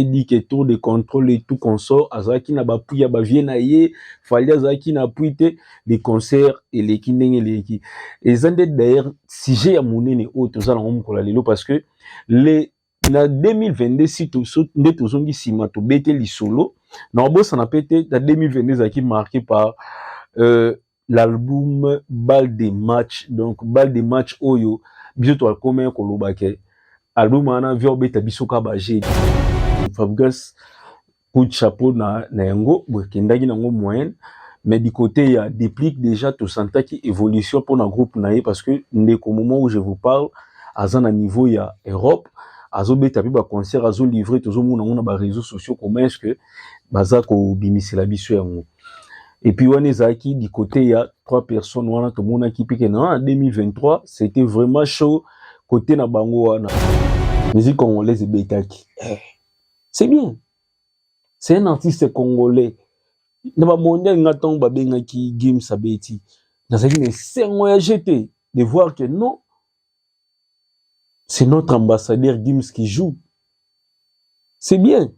dit que tour de contrôle et tout consort azalaki na bapui ya bavie na ye fali azalaki na pui te de concert eleki ndenge eleki eza nde d'ailleurs sujet ya monene oyo toza nango mokolo ya lelo parce que le na 2022 si to, so, nde tozongi nsima tobete lisolo na obosana mpe te na 2022 ezalaki marqué par euh, l'album bal de match donc bal de match oyo biso toakomaki koloba ke album wana via obeta biso ka baje fabrigas coup de chapeau na, na yango bokendaki nango moyenne mais du côté ya déplique déjà tosantaki évolution mpona groupe na ye parce que ndeko moment où je vous parle aza na niveau ya europe azobeta mpe baconcert azolivre tozomona yango na bareseau sociaux comment est ce que baza kobimisela biso yango Et puis wana ezalaki du côté ya trois personnes wana tomonaki mpe kena en 2023 c'était vraiment chaud côté na bango wana musique congolaise ebetaki eh. c'est bien c'est un artiste congolais na bamondial nga ntango babengaki games abeti nazalaki na esengo ya jete de voir que non c'est notre ambassadeur games qui joue c'est bien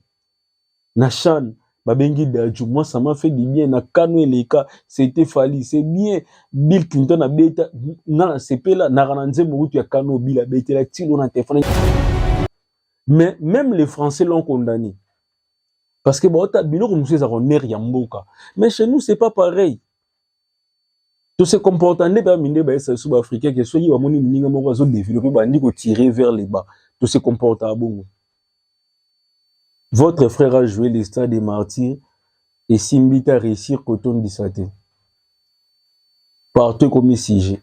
na shan babengi daju moi ça m'a fait du bien na kano eleka c'était fali c'est bien bill clinton abeta nga nasepela naka na nzembo kutu ya kano bill abetela tilo na telefone mais même les français l'ont condamné parce que baota biloko mosusu eza koner ya mboka mais chez nous c'est pas pareil To se comporta nde ba minde ba esa sous ba africain que soki ba moni muninga moko azo développer ba ndiko tirer vers le bas. To se comporta abongo. Votre frère a joué le stade des martyrs et Simbita réussir kotondisa te. Partout comme sujet.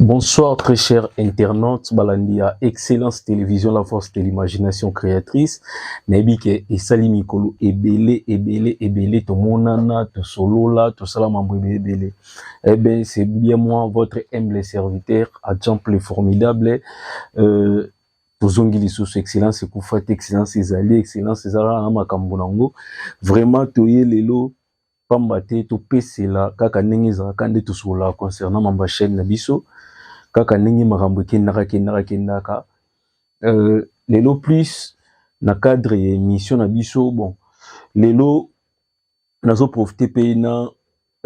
Bonsoir très chers internautes balandi ya Excellence Télévision la force de l'imagination créatrice nayebi ke esali mikolo ebele ebele ebele tomonana tosolola tosala mambo ebele ebele eh bien c'est bien moi votre humble serviteur agent le formidable euh, tozongi lisusu excellence ekufa te excellence ezali excellence eza kaka na makambo na yango vraiment toye lelo pamba te topesela kaka ndenge ezalaka nde tosololaka concernant mamba chaîne na biso kaka ndenge makambo ekendaka kendaka kendaka euh, lelo plus na cadre ya émission na biso bon lelo nazo profite mpe na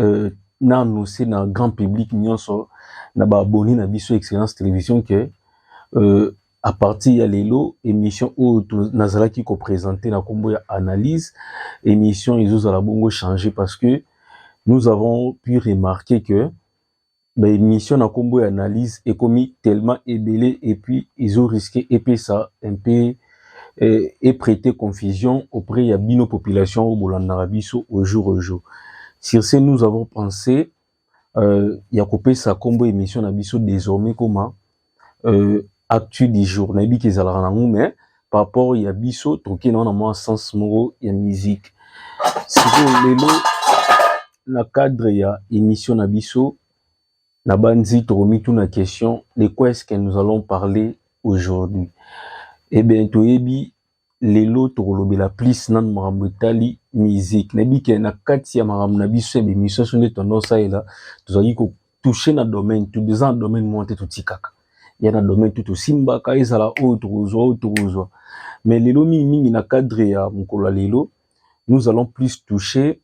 euh, na annonce na grand public nyonso na ba abonné na biso excellence télévision que euh, à partir ya lelo émission oyo nazalaki ko présenter na kombo ya analyse émission ezozala bongo changer parce que nous avons pu remarquer que ba émission na kombo ya analyse ekomi tellement ebele et puis ezo risquer epesa un peu euh, et prêter confusion auprès ya bino population oyo bolandaka biso au jour au jour sur ce nous avons pensé euh, ya kopesa kombo émission na biso désormais koma euh, actu du jour nayebi ke ezalaka nango mais par rapport ya biso toke na wana mwa sens moko ya musique sikoyo lelo na cadre ya émission na biso na banzi tokomituna question de quoi est-ce que nous allons parler aujourd'hui eh bien toyebi lelo tokolobela plus nanu makambo etali musique nayebi ke na kati ya makambo na biso ya bemission so nde tondo osalela tozalaki kotouche na domaine tout eza na domaine moko te totikaka ya na domaine tout tosimbaka ezala oyo tokozwa oyo tokozwa mais lelo mingimingi na cadre ya mokolo ya lelo nous allons plus toucher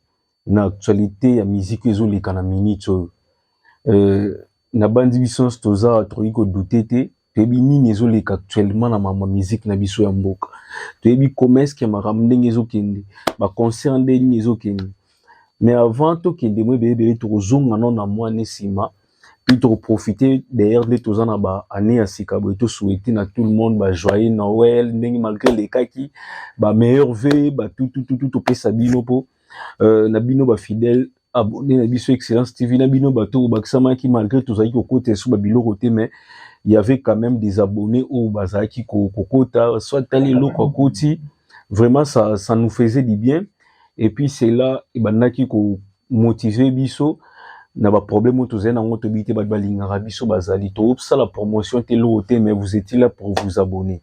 na actualité ya musique ezo leka na minute oyo euh, na bandi biso nyonso toza tokoki kodoute te toyebi nini ezo leka actuellement na mama musique na biso ya mboka toyebi commerce ya makambo ndenge ezo kende ba concert ndenge nini ezo kende mais avant tokende mwa ebele ebele tokozonga no na mwa ne nsima puis tokoprofite d'ailleurs nde toza na ba année ya sika boye tosouhaite na tout le monde ba joyeux noël ndenge malgré elekaki ba meilleur ve batutututu topesa bino mpo euh, na bino ba fidèle abonné na biso excellence tv na bino bato oyo bakisamaki malgré tozalaki kokota esu babiloko te mais il y avait quand même des abonnés oyo bazalaki kokota soit tali eloko akoti vraiment ça, ça nous faisait du bien et puis c'est là ebandaki komotive biso na baproblème oyo tozali nango toyebi te bato balingaka biso bazali tosala promotion te eloko te mais vous étiez là pour vous abonner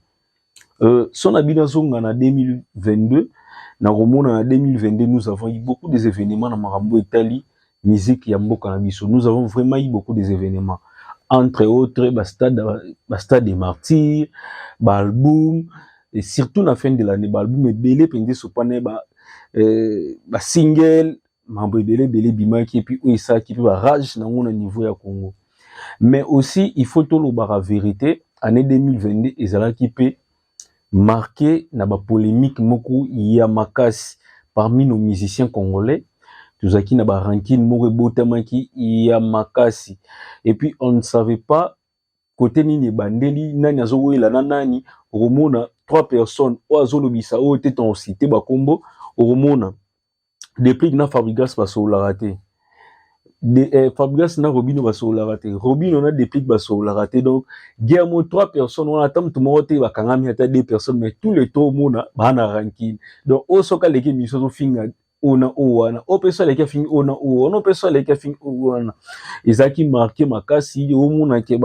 Euh, son na bino azonga na 2022 na komona na 2022 nous avons eu beaucoup des événements na makambo etali musique ya mboka na biso nous avons vraiment eu beaucoup des événements entre autres ba stade ba stade des martyrs ba album et surtout na fin de l'année ba album ebele penza sopana ba euh, ba single mambo ebele ebele ebimaki epuis oyo esalaki mpe barage na yango na niveau ya congo mais aussi il faut tolobaka verité année 2022 ezalaki mpe marqué na bapolémique moko ya makasi parmi nos musiciens congolais tozalaki na barankine moko ebotamaki ya makasi epuis on ne savait pas kote nini ebandeli nani azowelela na nani okomona trois personnes oyo azolobisa oyo te tonsite bakombo okomona deplick na fabrigas basololaka te de, eh, fabrigas na robino basololaka te robino na deplick basololaka te donc guerre mo trois personnes wana ata moto moko te bakangami ata deux personnes mais tous les trois omona baa na rankine donc oyo soki aleki emission azofinga oyo na oyo wana oyo mpe so aleki afingi oyo na oyo wana oyo mpe so aleki afingi oyo wana ezalaki marke makasi omonake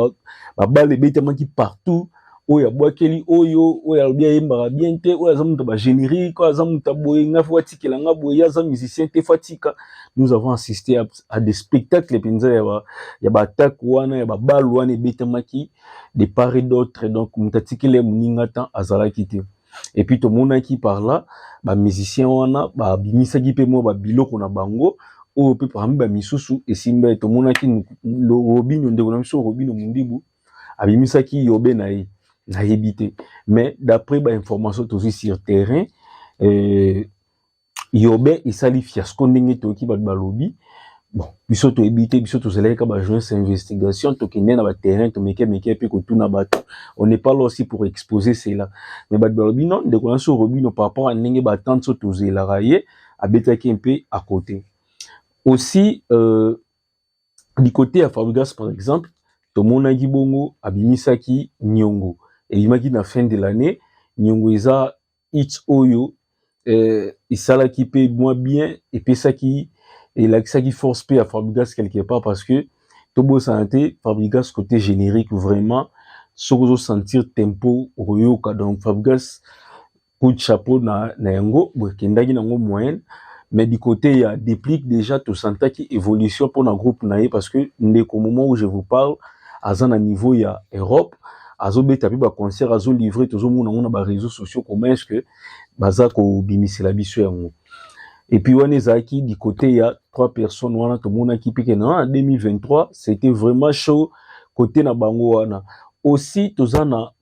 babale ebetamaki partout oyo abwakeli oyo oyo alobi ayembaka bien te oyo aza moto ba générique oyo aza moto boye nga fo atikela nga boye ye aza musicien te fo atika nous avons assisté à, à des spectacles mpenza ya ba, ya ba attaque wana ya babalu wana ebetamaki de part et d'autre donc moto atikeli ya moninga temps azalaki te et puis tomonaki par là bamusicien wana babimisaki mpe mwa babiloko na bango oyo mpe parmi bamisusu esimba tomonaki robino ndeko na biso robino mundibu abimisaki yobe na ye nayebi te mais d'après ba information tozwi sur terrain euh, yobe esali fiasco ndenge toyoki bato balobi bon biso toyebi te biso tozalaki kaka bajournaliste ya investigation tokende na baterrain tomeke meke mpe kotuna bato on n'est pas là aussi pour exposer cela mais bato balobi non ndeko na so robino par rapport ya ndenge batante so tozelaka ye abetaki mpe à côté aussi euh, du côté ya Fabregas par exemple tomonaki bongo abimisaki Nyongo ebimaki na fin de l'année Nyongo eza hit oyo euh, esalaki mpe mwa bien epesaki elakisaki force mpe ya Fabregas quelque part parce que tobosana te Fabregas côté générique vraiment soki ozosentir tempo okoyoka donc Fabregas coup de chapeau na, na yango bokendaki nango moyen mais du côté ya déplique déjà tosantaki évolution mpo na groupe na ye parce que ndeko moment où je vous parle aza na niveau ya europe azobeta mpe baconcert azolivre tozomona yango na baréseau sociaux comment est ce que baza kobimisela biso yango epuis wana ezalaki du côté ya trois personnes wana tomonaki mpe kena na 2023 c'était vraiment chaud côté na bango wana aussi toza na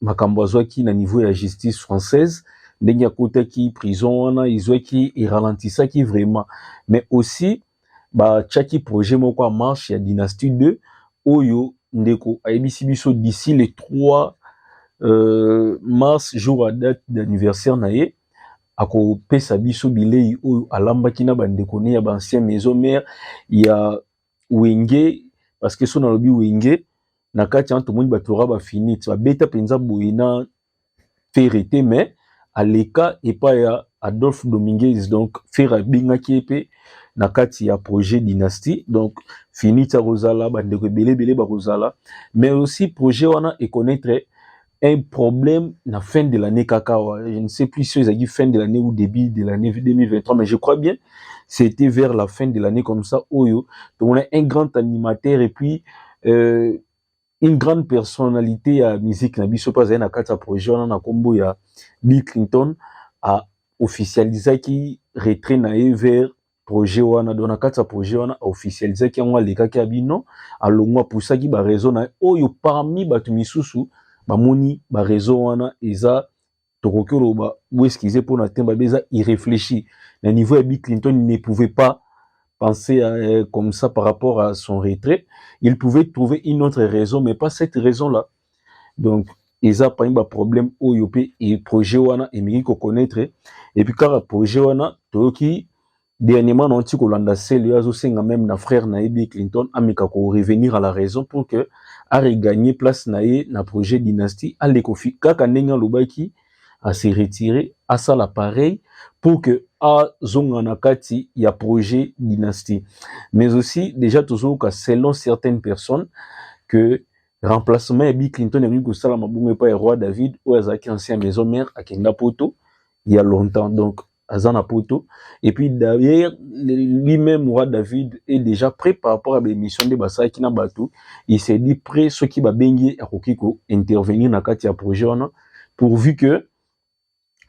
makambo azwaki na niveau ya justice française ndenge akotaki prison wana izwaki eralentisaki vraiment mais aussi batiaki projet moko ya marche ya dynastie 2 oyo ndeko ayebisi biso d'ici le 3 euh, mars jour ya date d'anniversaire na ye akopesa biso bilei oyo alambaki na bandeko ne ya baancien maison mare ya wenge parce que so nalobi wenge na kati wana tomoni bato ora bafinite babeta mpenza boye na fere te mais aleka epai ya adolphe dominguez donc fere abengaki ye mpe na kati ya projet dynastie donc finite akozala bandeko ebele ebele bakozala mais aussi projet wana econaitre un problème na fin de l'année kaka je ne sais plus si ezalaki fin de l'année ou début de l'année 2023 mais je crois bien c'était vers la fin de l'année comme ça oyo tomona un grand animateur et puis euh, une grande personnalité ya musique na biso mpe azali na kati ya projet wana na nkombo ya bill clinton a officialisaki retrait na ye vers projet wana donc na kati ya projet wana officialisaki yango alekaki ya bino alongwa apusaki bareseau na ye oyo parmi bato misusu bamoni bareseau wana eza tokoki oloba boeskize mpo na temba be eza irréfléchi na niveau ya bi clinton il ne pouvait pas penser à, euh, comme ça par rapport à son retrait il pouvait trouver une autre raison mais pas cette raison là donc eza parmi ba problème oyo pe e projet wana emeki ko connaître et puis kaka projet wana toyoki dernièrement na nti kolanda sele yo azosenga meme na frère na ye bill clinton ameka ko revenir à la raison pour que areganye place na ye na projet dynastie aleko fi kaka ndenge alobaki ase retire asala pareil pour que azonga na kati ya projet dynastie mais aussi déjà tozoyoka selon certaines personnes que remplacement ya Bill Clinton ekoki kosalama bongo epai ya roi David oyo azalaki ancien maison mère akenda poto il y a longtemps donc aza na poto et puis d'ailleurs lui-même roi David est déjà prêt par rapport à l'émission de basalaki na bato il s'est dit prêt soki babengi ye akoki ko intervenir na kati ya projet wana pourvu que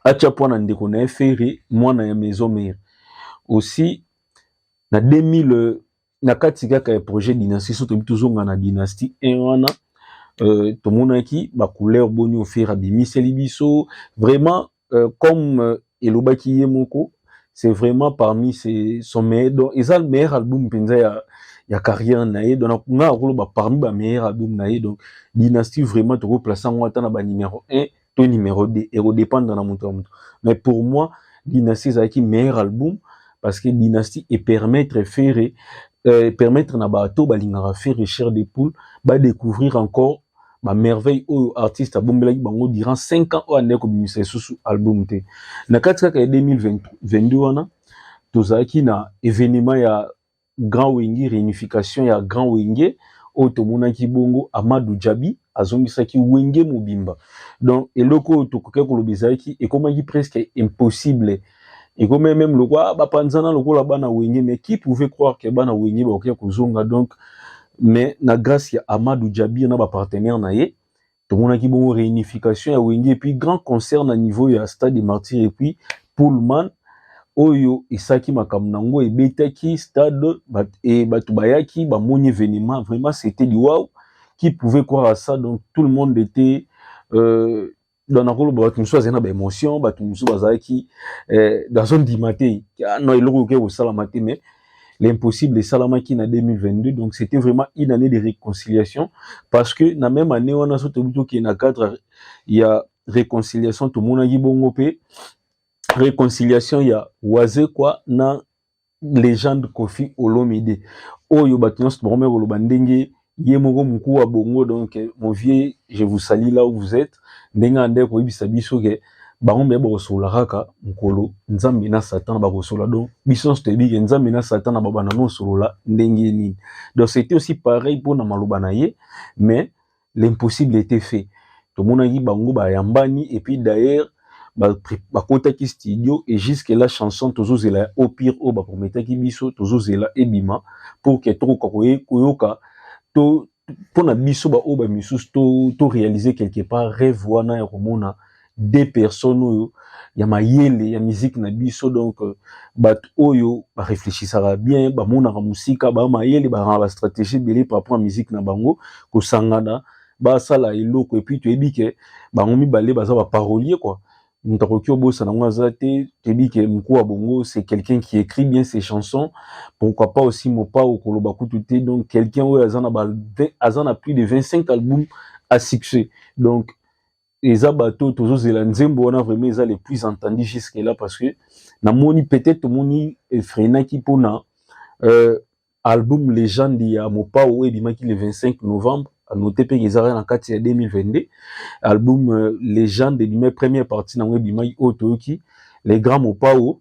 atia mpo na ndeko na ye ferre mwana ya maison mère aussi na 2000 na kati kaka ya projet dynastie so toyebi tozonga na dynastie 1 wana euh, tomonaki bacouleur boni ofere abimiseli biso vraiment euh, comme euh, elobaki ye moko c'est vraiment parmi ses, son meilleur donc eza le meilleur album mpenza ya, ya carrière na ye donc nga akoloba parmi ba meilleur album na ye donc dynastie vraiment tokoplace yango ata na ba numéro 1 to numero 2 eko dépendre na moto ya moto mais pour moi dynastie ezalaki meilleur album parce que dynastie e permettre ferre euh, permettre na bato balingaka ferre cher de poule ba découvrir encore ba merveille oyo artiste abombelaki bango durant 5 ans oyo andaki kobimisa lisusu album te na kati kaka ya 2022 wana tozalaki na événement ya Grand Wenge, reunification ya Grand Wenge oyo tomonaki bongo Amadou Djabi azongisaki Wenge mobimba. Donc eloko oyo tokokaki koloba ezalaki ekomaki presque impossible ekomaki meme lokola ah, bapanzana lokola bana Wenge, mais qui pouvait croire que bana Wenge bakokaki kozonga donc mais na grâce ya Amadou Djabi na ba partenaires na ye tomonaki bongo reunification ya wenge epuis grand concert na niveau ya stade de martyr epuis pullman oyo esaki makambo na yango ebetaki stade bat, e, bato bayaki bamoni evenement vraiment c'était du wow qui pouvait croire à ça donc tout le monde était euh, donc nakoloba bato mosusu azali na baémotion bato mosusu bazalaki eh, nazondima te ah, no eloko oke kosalama te mais l'impossible esalamaki na 2022 donc c'était vraiment une année de réconciliation parce que na même année wana so tobi tokende na cadre ya réconciliation tomonaki bongo mpe réconciliation ya wazekwa na légende kofi olomide oyo bato nyonso bakomaki koloba ndenge ye moko mokua bongo donc mon vieux je vous salis là où vous êtes ndenge na ndenge koyebisa biso ke bango mpe bakosola kaka mokolo nzambe na satana bakosola donc biso nyonso toyebi ke nzambe na satana babanda nosolola ndenge nini donc c'était aussi pareil mpo na maloba na ye mais l'impossible était fait tomonaki bango bayambani et puis d'ailleurs bakotaki studio et jusque la chanson tozozela ya opire oyo baprometaki biso tozozela ebima pour que tokoka koyoka to mpo na biso baoyo ba misusu to, to réaliser quelque part rêve wana ya komona de personnes oyo ya mayele ya miziki na biso donc euh, bato oyo bareflechisaka bien bamonaka mosika ba mayele bakanga bastratégie ebele par rapport ya miziki na bango kosangana basala eloko et puis toyebi ke bango mibale baza ba parolier quoi moto akoki obosana yango aza te toyebi ke mokuu ya bongo c'est quelqu'un qui écrit bien ses chansons pourquoi pas aussi mopao koloba kutu te donc quelqu'un oyo aza na ba aza na plus de 25 albums à succès donc eza bato tozozela nzembo wana vraiment eza le plus entendu jusque là parce que namoni peut-être tomoni efrenaki mpona euh, Album Legende ya Mopao oyo ebimaki le 25 novembre anote mpe ezalaki na kati ya 2022 album euh, Legende ebimai première partie nango ebimaki oyo toyoki le grand Mopao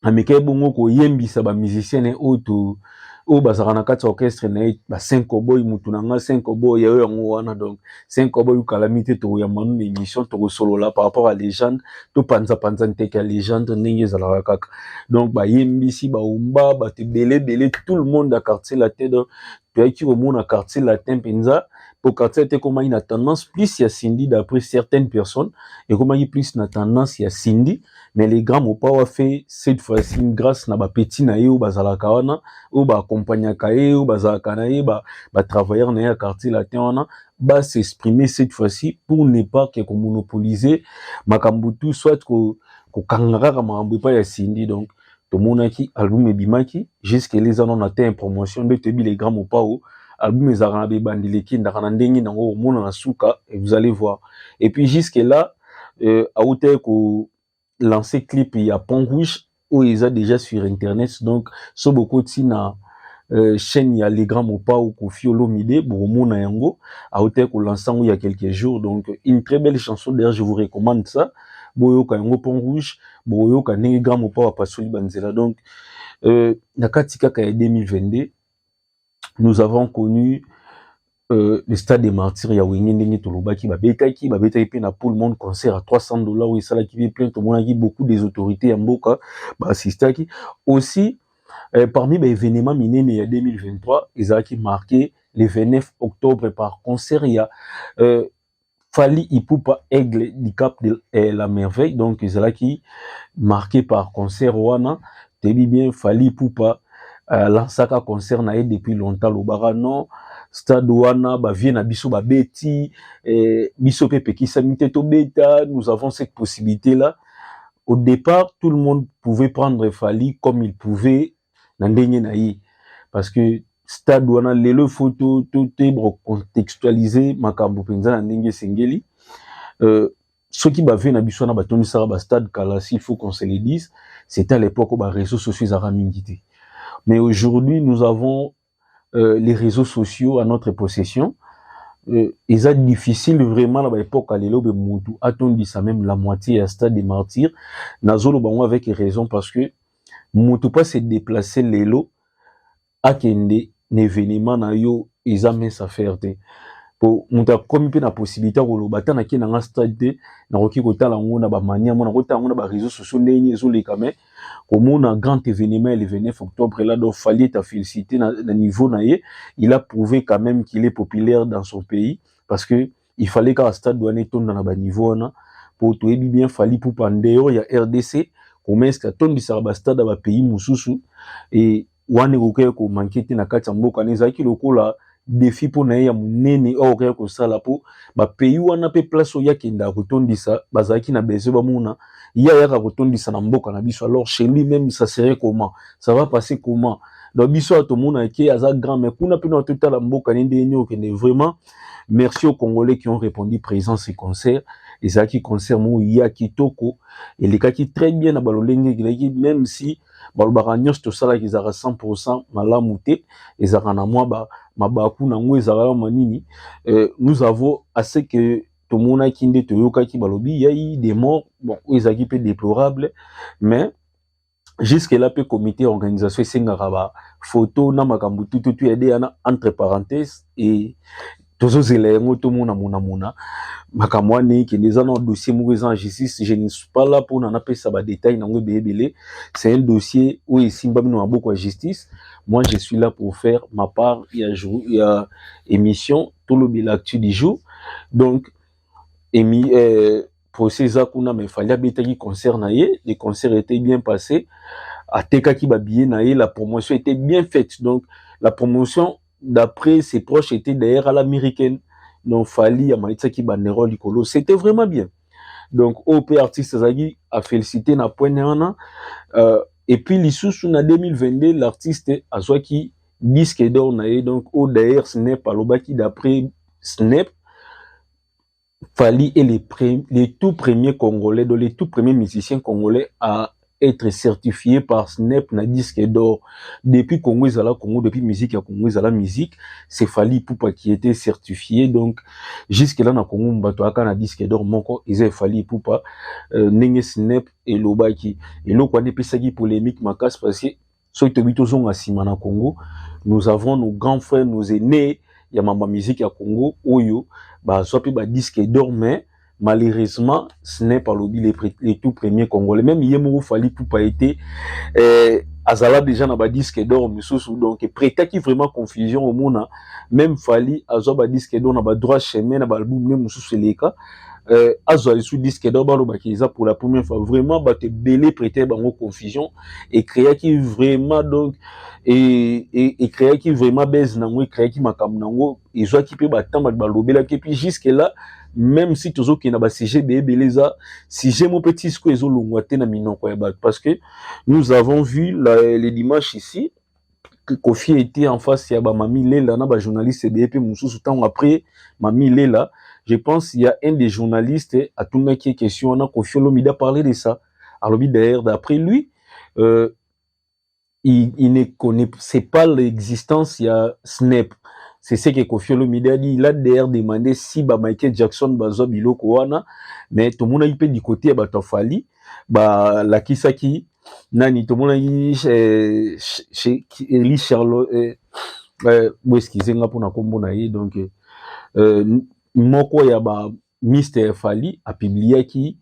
amekaki bongo koyembisa ba musiciens na oyo to oyo bazalaka na kati ya orchestre na ye ba 5 oboy mutu na nga 5 oboy yayo yango wana donc c'est nkobo oyo calamité tokoyamba no na émission tokosolola par rapport à légende topanzapanza nteke ya légende ndenge ezalaka kaka donc bayembisi baumba bato ebele ebele tout le monde ya quartier latin donc toyaki komona quartier latin mpenza mpo quartier latin ekomaki na tendance plus ya cindy d'après certaines personnes ekomaki plus na tendance ya cindy mais le grand mopawa fait cette fois-ci une grâce na bapeti na ye oyo bazalaka wana oyo baakompagnaka ye oyo bazalaka na ye batravailleur na ye ya quartier latin wana ba s'exprimer cette fois-ci pour ne pas ke komonopolise makambo tout soit kokanga kaka makambo epai ya sindi donc tomonaki album ebimaki jusque les anons na te promotion nde toyebi les grands mopao album ezalaka na bebandeli ekendaka na ndenge nango omona na suka et vous allez voir et puis jusque là euh, autaki ko lancer clip ya pont rouge oyo eza déjà sur internet donc so bokoti na euh, chaîne ya les grands mopao kofi olomide bokomona yango autaki kolansa yango ya quelques jours donc une très belle chanson d'ailleurs je vous recommande ça boyoka yango pont rouge bokoyoka ndenge grand mopao apasoli banzela donc euh, na kati kaka ya 2022 nous avons connu euh, le stade des martyrs ya wenge ndenge tolobaki babetaki babetaki mpe na pool monde concert à 300 dollars oyo esalaki mpe plein tomonaki beaucoup des autorités ya mboka baassistaki aussi euh, parmi baévénement minene ya 2023 ezalaki marqué le 29 octobre par concert ya euh, Fally Ipupa Aigle du Cap de eh, la Merveille donc ezalaki marqué par concert wana toyebi bien Fally Ipupa euh, lansaka concert na ye depuis longtemps lobaka non stade wana bavie na biso babeti eh, biso mpe epekisami te tobeta nous avons cette possibilité là au départ tout le monde pouvait prendre Fally comme il pouvait na ndenge na ye parce que stade wana lelo faut to to te recontextualiser makambo mpenza na ndenge esengeli euh, soki bavie na biso wana batondisaka bastade kala s'il faut qu'on se le dise c'était à l'époque oyo bareseau sociaux ezalaka mingi te mais aujourd'hui nous avons euh, les réseaux sociaux à notre possession euh, eza difficile vraiment na baepoque ya lelo be mutu atondisa même la moitié ya stade de martyr nazoloba yango avec raison parce que mutu mpo se déplace lelo akende na événement na yo eza mince affaire te po moto akomi mpe na possibilité ya koloba ata nake na nga stade te nakoki kotala yango na bamania mo nakotala yango na bareseau sociaux ndenge nini ezoleka mais komona grand événement ya le 29 octobre là donc Fally est à féliciter na, na niveau na ye il a prouvé quand même qu'il est populaire dans son pays parce que il fallait kaka stade wana etonda na baniveau wana mpo toyebi bien Fally Ipupa en dehors ya RDC comesque atondisaka bastade ya bapays mosusu et wana ekokaki komanke te na kati ya mboka na ezalaki lokola defi mpo na ye ya monene oyo akokaki kosala mpo bapays wana mpe place oyo akendaka kotondisa bazalaki na besoin bamona ye ayaka kotondisa na mboka na biso alors chez lui même ça serait comment ça va passer comment donc biso awa tomonaka ke aza grand mais kuna mpe na totala mboka ne ndenge nini okende vraiment merci aux congolais qui ont répondu présent ce concert ezalaki concert moko ya kitoko elekaki très bien na balolenge ekelaki même si balobaka nyonso tosalaki ezalaka 100% malamu te ezalaka na mwa ba mabaku na yango ezalaka mwa nini euh, nous avons assez que tomonaki nde toyokaki balobi yai des morts bon oyo ezalaki mpe déplorable mais jusque là mpe comité ya organisation esengaka ba photo na makambo tututu ya deyana entre parenthèse et tozozela yango tomona monamona makambo wana ekende eza na dossier moko eza en justice je ne suis pas là mpona napesa badetail nango ebele ebele c'est un dossier oyo esimbami na maboko ya justice moi je suis là pour faire ma part ya, jour, ya émission tolobela actu du jour donc emi, euh, procès eza kuna mais fali abetaki concert na ye le concert était bien passé atekaki babillet na ye la promotion était bien faite donc la promotion d'après ses proches était d'ailleurs à l'américaine non fali amatisaki banero likolo c'était vraiment bien donc oyo mpe artiste azalaki afélicité na point na wana euh, et puis lisusu na 2022 l'artiste azwaki disque d'or na ye donc oyo d'ailleurs snep alobaki d'après snep Fally est le, pre, le tout premier congolais, donc le tout premier musicien congolais à être certifié par SNEP na disque d'or. Depuis Congo Zala Congo, depuis musique ya Congo Zala musique, c'est Fally Poupa qui était certifié. Donc jusque là na Congo mbato aka na disque d'or moko eza Fally Poupa euh, ndenge SNEP elobaki. Eloko wana epesaki polemique makasi parce que soki toyebi tozonga nsima na congo nous avons nos grands frères nos aînés ya mamba musique ya congo oyo bazwa mpe badisque d'or mais malheureusement ce n'est pas lobi le, le tout premier congolais même ye moko fali pupa ete euh, azala déjà na badisque d'or mosusu donc prêtaki vraiment confusion omona même fali azwa badisque d'or na badroit chemin na baalbum ne mosusu eleka euh, azwa lisu disque d'or balobaki eza pour la première fois vraiment bato ebele prêter bango confusion ecreaki vraiment donc ecreaki vraiment base nango ecreaki makambo nango ezwaki mpe batamba balobelaki epuis jusque là même si tozokende na basujet beebele eza sujet mo mpe tisco ezolongwa te na minoko ya bato parce que nous avons vu la, le dimanche ici Koffi était en face ya ba Mami Lela na ba journalistes ebele pe mususu tango après Mami Lela je pense il y a un des journalistes atunaki question wana Koffi Olomide a parler de ça alobi d'ailleurs d'après lui euh, il, il ne connaissait pas l'existence il y a Snap c'est ce que Koffi Olomide a dit il a d'ailleurs demandé si ba Michael Jackson bazwa biloko wana mais tomonaki pe du côté ya bato ya Fally balakisaki nani tomonaki eh, eli charlo eh, eh, boeskize nga mpona nkombo na ye donc moko ya ba mister fali apubliaki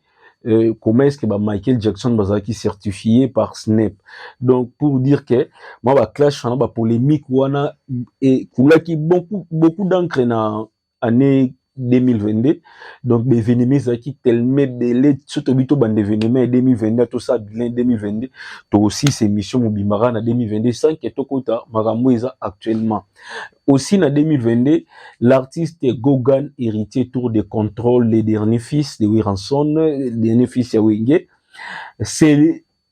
Euh, comment est-ce que bah, Michael Jackson bah, qui certifié par Snap donc pour dire que moi bah clash on a bah, polémique on a et qui beaucoup beaucoup d'encre na année 2022 donc baevenema ezalaki teleme ebele so tobi tobanda evenema ya 2022 tosala bilan 2022 tokosilisa émission mobimaka na 2022 sans ke tokota makambo eza actuellement aussi na 2022 l'artiste gogan héritier tour de contrôle le dernier fils de wiranson dernier fils ya wenge c'est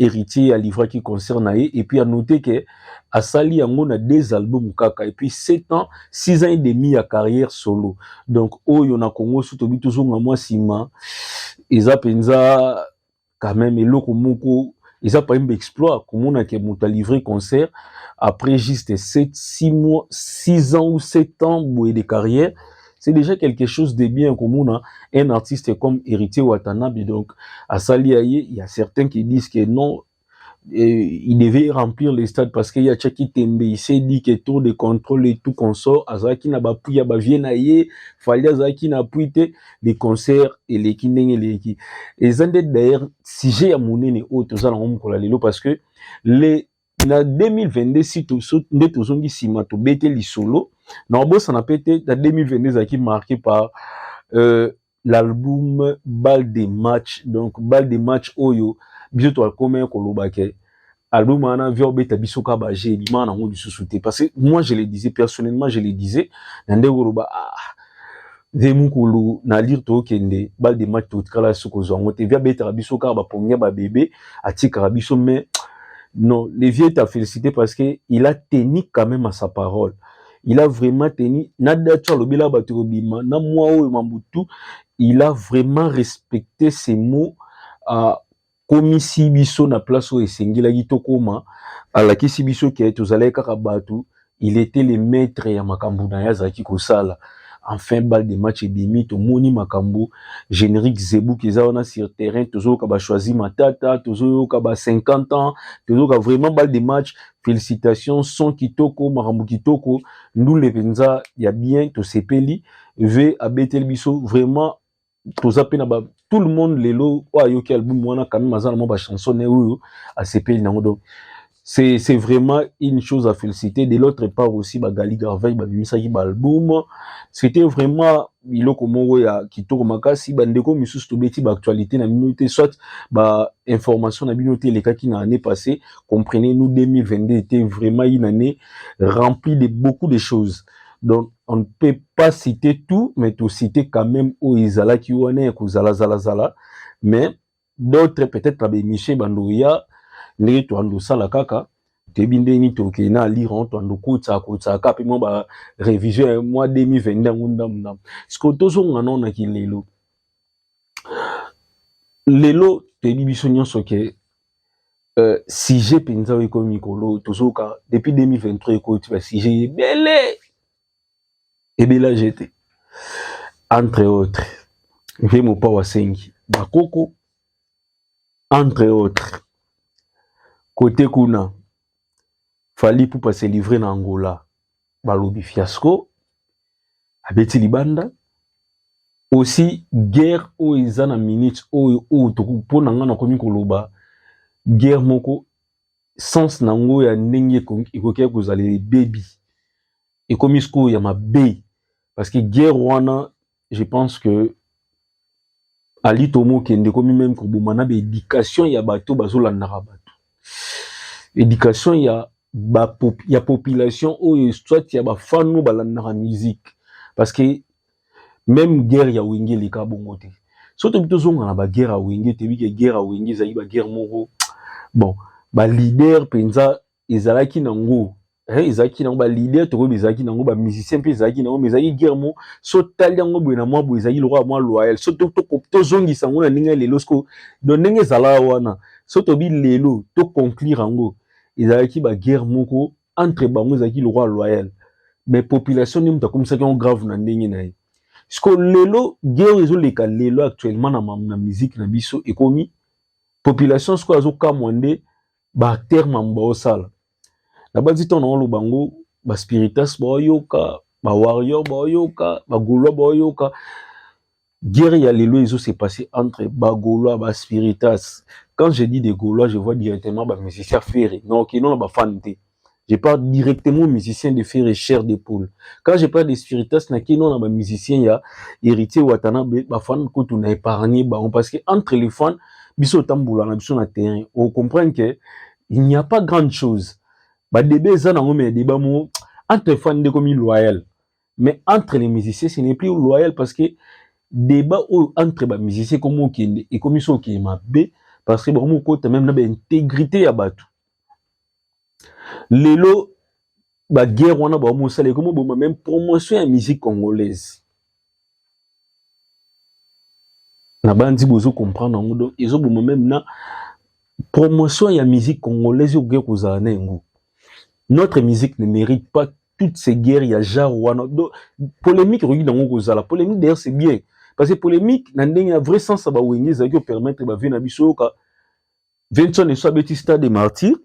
Héritier a livré qui concert na ye et puis a noté que asali yango na deux albums kaka et puis 7 ans 6 ans et demi ya carrière solo donc oyo na Congo so tobi tozonga mwa nsima eza mpenza quand même eloko moko eza pa mbe exploit komona ke moto a livre concert après juste 7 6 mois 6 ans ou 7 ans boye de carrière c'est déjà quelque chose de bien komona un artiste comme héritier watanabe donc asali ya ye il y a certains qui disent que non et il devait remplir les stades parce qu'il y a Tchaki Tembe, il s'est dit que tour de contrôle et tout consort, Azaki na bapui ya bavie na ye, fallait Azaki na pui te, les concerts et les kindenge les ki. Et zande d'ailleurs, sujet ya monene oyo tozala ngomu kola lelo parce que les na 2022 si toso nde tozongi nsima tobete lisolo na obosana mpe te na 2022 ezalaki marqué par euh, l'album bal de match donc bal de match oyo biso toakomaki koloba ke album wana via obeta biso ka baje ebima nango lisusu te parce que moi je le disais personnellement je le disais na ndenge koloba ah, ve mukulu na lire tokende bal de match totikala soko kozwa yango te vie abetaka biso kaka bapongia babebe atikaka biso mais non le vieux est à féliciter parce que il a tenu quand même à sa parole il a vraiment tenu na datu alobela bato kobima na mwa oyo mambutu il a vraiment respecté ses mots uh, akomisi biso na place oyo esengelaki tokoma alakisi biso ke tozalaki kaka bato il était le maître ya makambo na ye azalaki kosala enfin balle de match ebimi tomoni makambo générique zebuki eza wana sur terrain tozoyoka bachoisi matata tozoyoka ba 50 ans tozoyoka vraiment balle de match félicitations son kitoko makambo kitoko ndule mpenza ya bien tosepeli ve abeteli biso vraiment toza pe na ba tout le monde lelo oyo ayoki album wana quand même aza na mwa ba chanson ne oyo asepeli nango donc c'est c'est vraiment une chose à féliciter de l'autre part aussi bagali garvey babimisaki baalbum c'était vraiment biloko moko ya kitoko makasi bandeko misusu tobeti baactualité na bino te soit bainformation na bino te elekaki na année passée comprenez nous 2022 était vraiment une année remplie de beaucoup de choses donc on ne peut pas citer tout mais to citer quand même oyo ezalaki wana ya kozala zala zala mais d'autres peut-être na bemiche bandoya ndenge toando sala kaka toyebi ndenge nini tokei na lire on toando kotisa kotisa kaka mpe mwa ba révision ya mwa 2022 yango ndambu ndambu sikoyo tozonga nao na kilelo lelo toyebi biso nyonso ke Euh, sujet mpenza oyo ekomi mikolo oyo tozoyoka depuis 2023 ekoti basujet ebele ebela jete entre autres mpe mopao asengi bakoko entre autres kote kuna fali pupa se livre na angola balobi fiasco abeti libanda osi guerre oyo eza na minute oyo oyo mpo na ngai nakomi koloba guerre moko sens na yango ya ndenge ekoki kozala ebebi ekomi sikoyo ya mabe parce que guerre wana je pense que ali tomokende ekomi meme koboma na baéducation ya bato bazolandaka bato éducation ya ba, ya population oyo soit ya bafano balandaka musique parce que meme guerre ya wenge eleka bongo te so tobi tozonga na baguerre ya wenge toyebi ke guerre ya wenge ezalaki baguerre moko bon balider mpenza ezalaki nango hein, ezalaki nango balider tokoyebi ezalaki nango bamusicien mpe ezalaki nango mais ezalaki guerre mo so tali yango boye na mwa boye ezalaki lokola mwa loyal so tozongisa yango na ndenge ya lelo siko do ndenge ezalaka wana so tobi lelo toconclure yango ezalaki baguerre moko entre bango ezalaki lokola loyal mais population nde moto akomisaki yango grave na ndenge na ye siko lelo guerre ezoleka lelo actuellement na, na musique na biso ekomi population sikoyo azokamwa nde ba acteurs mamu baosala nabanzi ntango naoloba yango ba spiritas baoyoka ba warrior baoyoka ba gaulois baoyoka guerre ya lelo ezo se passe entre ba gaulois ba spiritas quand je dis des gaulois je vois directement ba musiciens ferre mais okino na ba fan te Je parle directement musicien de fer et chair de poule. Quand je parle de spiritas, na kino na ba musiciens ya héritier Watanabe, ba fans kutu na épargné ba parce que entre les fans, biso tambola na biso na terrain. On comprend que il n'y a pas grande chose. Ba débats za na ngome débat mo entre fans de comme loyal. Mais entre les musiciens, ce n'est plus loyal parce que débat entre ba musiciens comme okende et comme iso qui est ma parce que ba mo kota même na ba intégrité ya batou. lelo ba guerre wana ba mosala ekomi boma même promotion ya musique congolaise na banzi bozo comprendre yango donc ezo boma même na promotion ya musique congolaise okoki kozala na yango notre musique ne mérite pas toutes ces guerres ya genre wana donc polémique ekoki nango kozala polémique d'ailleurs c'est bien parce que polémique na ndenge ya vrai sens ya bawenge ezalaki opermettre bavie na biso oyoka Vincent Esso abeti stade de martyr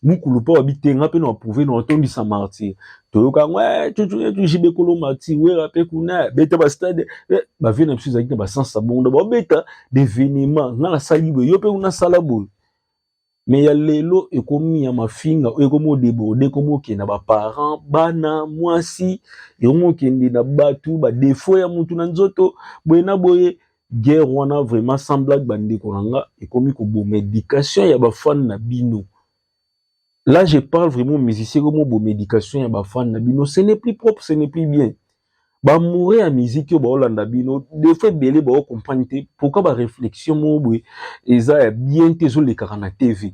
mukulu mpo abitenga mpe na approuve na otondisa martyr toyoka yango eh, tujujibe kolo martyr wera mpe kuna beta ba stade eh, bavie na biso ezalaki na basansa bongo babeta devenema nga nasali boye yo mpe kuna sala boye me ya lelo ekomi ya mafinga oyo ekomi odeborde ekomi okende na baparent bana mwasi ekomi okende na bato badefo ya motu na nzoto boye na boye guerre wana vraiment sans blague bandeko na nga ekomi koboma education ya bafane na bino là je parle vraiment musicien ekomi koboma education ya bafane na bino ce n'est plus propre ce n'est plus bien bamoure ya miziki oyo baolanda bino defo ebele baocomprane te pourkui baréflexion moko boye eza ya bien te ezolekaka na tv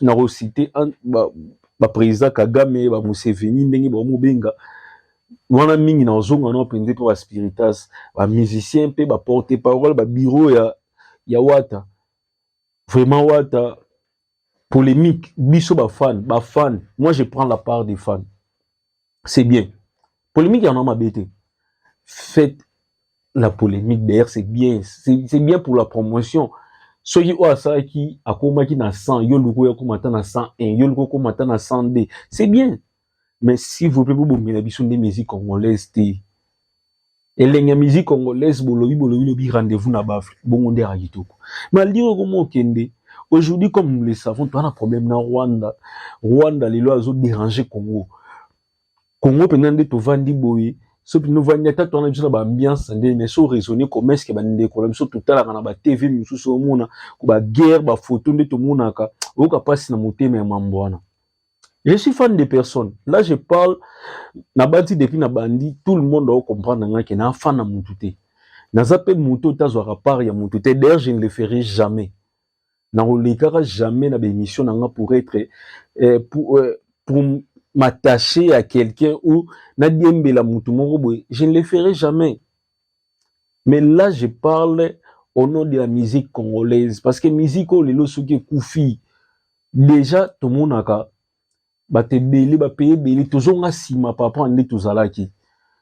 na ko citer ba, ba président Kagame ba Museveni ndenge ba mobenga wana mingi na ozonga na penze mpe ba spiritas ba musiciens mpe ba porte parole ba bureau ya ya Wata vraiment Wata polemique biso ba fan ba fan moi je prends la part des fans c'est bien polemique yango mabe te faites la polemique d'ailleurs c'est bien c'est bien pour la promotion soki oyo asalaki akomaki na 100 yo luku oyo akoma ata na 101 yo luku okoma ata na 102 c'est bien mais si vous plaît bobongela biso nde musique congolaise te Elengi ya musique congolaise bolobi bolobi lobi rendez-vous na ba Afrique bongo nde ya kitoko. Malgré okomo okende aujourd'hui comme nous le savons tu as un problème na Rwanda. Rwanda lelo azo déranger Congo. Congo pena nde tovandi boye so pena ovandi ata toana biso na ba ambiance nde mais so raisonner comme est-ce que ba ndeko na biso totalaka na ba TV mosusu omona ko ba guerre ba photo nde tomonaka oyoka pasi na motema ya mambo wana. Je suis fan de personne. Là, je parle, nabanti depuis na bandi, tout le monde doit comprendre nga que na fan na mutu te. Naza pe mutu tazwaka part ya mutu te. D'ailleurs, je ne le ferai jamais. Na kolekaka jamais na émission na nga pour être euh, pour, euh, pour m'attacher à quelqu'un ou na diembela mutu moko boye. Je ne le ferai jamais. mais là je parle au nom de la musique congolaise parce que musique oyo lelo soki ekufi déjà tomonaka bato ebele bapaye ebele tozonga nsima papa nde tozalaki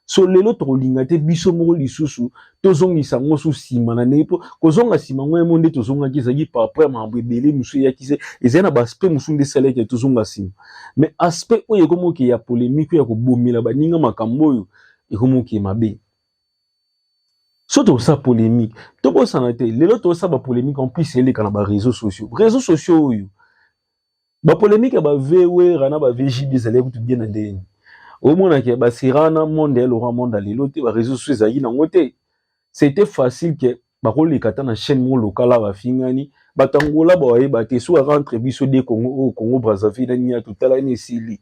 so lelo tokolinga te biso moko lisusu tozongisa yango so nsima na ndenge mpo kozonga nsima yango yemo nde tozongaki ezalaki par apres makambo ebele mosusu eyaki se ezali na baaspect mosusu nde esalaki tozonga nsima mais aspect oyo ekomoke ya polemike ya kobomela baninga makambo oyo ekomi mokili mabe so tokosala polémique tobosana te lelo tokosala bapolémique en plus eleka na bareseau sociaux réseau sociaux oyo bapolémique ya bavewera na bavgb ezali kutu bien na ndenge nini omonaka baserana monde ya laurent monde lelo te bareseau sociaux ezalaki nango te c'était facile ke bakoleka ata na chaîne moko lokala bafingani bato angola bawayeba te soki aka entre biso de congo oyo oh, congo brazzaville na nini atotalani esili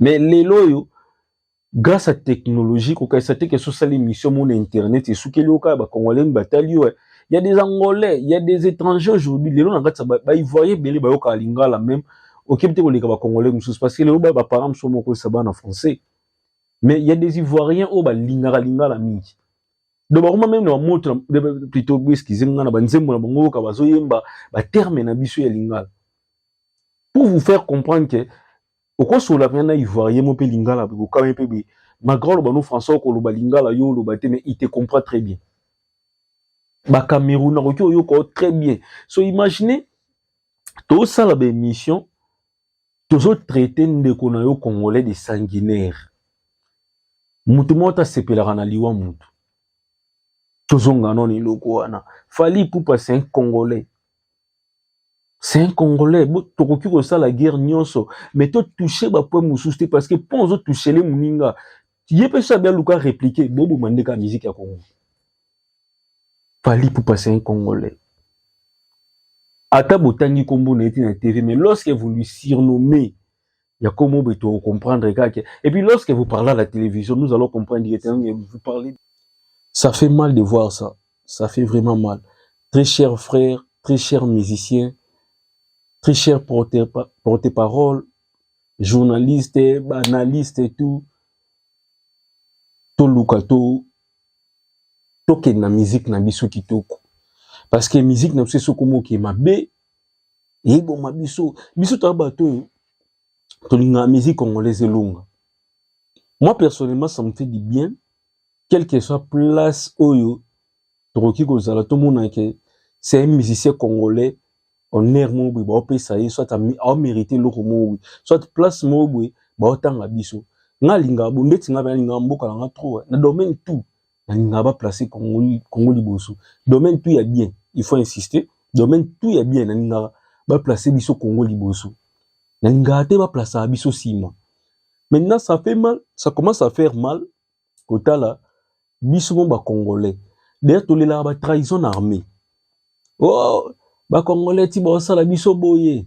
mais lelo oyo grâce à technologie kokanisa te keso osali émission mona internet esukeli yo kaka bacongolais nini batali yo eh. y a des angolais y a des étrangers aujourd'hui lelo na kati ya baivoirien ebele bayokaka lingala même okebi te koleka bacongolais mosusu parce que lelo baparent mosusu mokoyesa bana français mais y a des ivoiriens oyo balingaka lingala mingi donc bakoma meme na bamoto plutôt boeskize nga na banzembo na bango yoka bazoyemba baterme na biso ya lingala pour vous faire comprendre que okosolola mpenza na ivoirien mo mpe lingala bokokabani mpe boye malgré oloba no français okoloba lingala yo oloba te mais il te comprend très bien bacameroun akoki oyoka yo très bien so imagine tosala baémission tozotraite ndeko na yo congolais de sanguinaire moto moko te asepelaka na liwa moto tozonga nono eloko wana fali pupa c'est un congolais c'est un congolais tokoki kosala guerre nyonso mais to touche bapoint mosusu te parce que mpo ozo touchele moninga ye mpe so abialuka répliquer boboma nde kaka miziki ya kongo fali pupa c'est un congolais ata botangi nkombo na ye te na tv mais lorsque vous lui surnommez ya komo boye to comprendre kaka et puis lorsque vous parlez à la télévision nous allons comprendre que hein, vous parlez ça fait mal de voir ça ça fait vraiment mal très cher frère très cher musicien très cher porte-parole journaliste analyste et tout toluka to tokende na musique na biso kitoko parce que musique na biso esoko moke mabe eboma biso biso toza bato oyo tolingaka musique congolaise elonga moi personnellement ça me fait du bien quelle que soit place oyo tokoki kozala tomona ke c'est un musicien congolais honneur moko boye baopesa ye soit aomérite eloko moko boye soit place moko boye baotanga biso nga alingaka bo ndeti nga pe alingaka mboka na nga trop na domaine tout balingaka ba placer Congo Congo liboso domaine tout ya bien il faut insister domaine tout ya bien nalingaka ba placer biso Congo liboso nalingaka te ba placer biso sima maintenant ça fait mal ça commence à faire mal kotala biso mo ba congolais d'ailleurs tolelaka ba trahison na armée oh ba congolais ti baosala biso boye